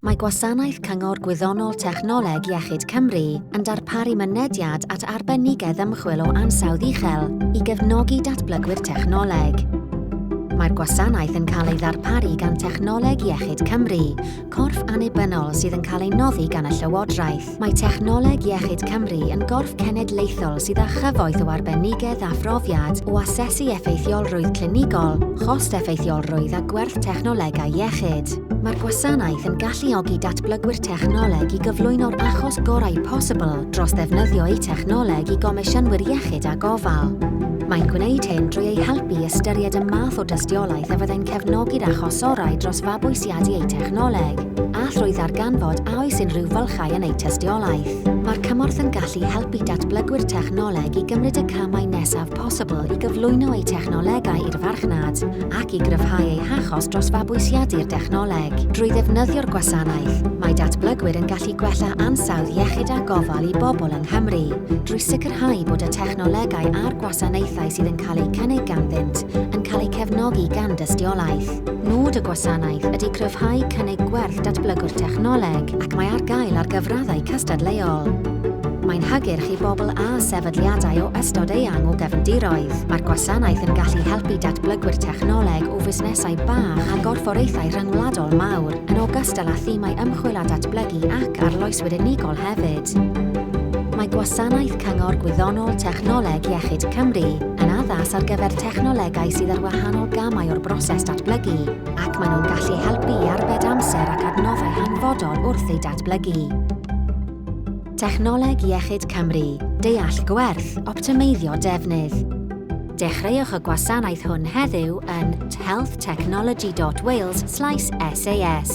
Mae Gwasanaeth Cyngor Gwyddonol Technoleg Iechyd Cymru yn darparu mynediad at arbenigedd ymchwil o ansawdd uchel i gefnogi datblygwyr technoleg. Mae'r gwasanaeth yn cael ei ddarparu gan Technoleg Iechyd Cymru, corff annibynnol sydd yn cael ei noddi gan y Llywodraeth. Mae Technoleg Iechyd Cymru yn gorff cenedlaethol sydd â chyfoeth o arbenigedd a phrofiad o asesu effeithiolrwydd clinigol, chost-effeithiolrwydd a gwerth technolegau iechyd. Mae'r gwasanaeth yn galluogi datblygwyr technoleg i gyflwyno'r achos gorau posibl dros ddefnyddio eu technoleg i gomisiynwyr iechyd a gofal. Mae'n gwneud hyn drwy eu helpu i ystyried y math o dystiolaeth a fyddai'n cefnogi'r achosorau dros fabwysiadu bwriadu eu technoleg, a thrwy ddarganfod a oes unrhyw fylchau yn eu tystiolaeth. Mae'r cymorth yn gallu helpu datblygwyr technoleg i gymryd y camau nesaf posibl i gyflwyno eu technolegau i'r farchnad ac i gryfhau eu hachos dros fabwysiadu'r dechnoleg. Drwy ddefnyddio'r gwasanaeth, mae datblygwyr yn gallu gwella ansawdd iechyd a gofal i bobl yng Nghymru, drwy sicrhau bod y technolegau a'r gwasanaethau sydd yn cael eu cynnig ganddynt yn cael eu cefnogi gan dystiolaeth. Nod y gwasanaeth ydy cryfhau cynnig gwerth datblygwr technoleg ac mae ar gael ar gyfraddau cystadleuol. Mae'n hygyrch i bobl â sefydliadau o ystod eang o gefndiroedd. Mae'r gwasanaeth yn gallu helpu datblygwyr technoleg o fusnesau bach a gorfforaethau rhyngwladol mawr, yn ogystal â thimau ymchwil a datblygu ac arloeswyr unigol hefyd. Mae gwasanaeth Cyngor Gwyddonol Technoleg Iechyd Cymru yn addas ar gyfer technolegau sydd ar wahanol gamau o'r broses datblygu ac maen nhw'n gallu helpu i arbed amser ac adnoddau hanfodol wrth eu datblygu. Technoleg Iechyd Cymru, deall gwerth, optimeiddio defnydd. Dechreuwch y gwasanaeth hwn heddiw yn healthtechnology.wales sas.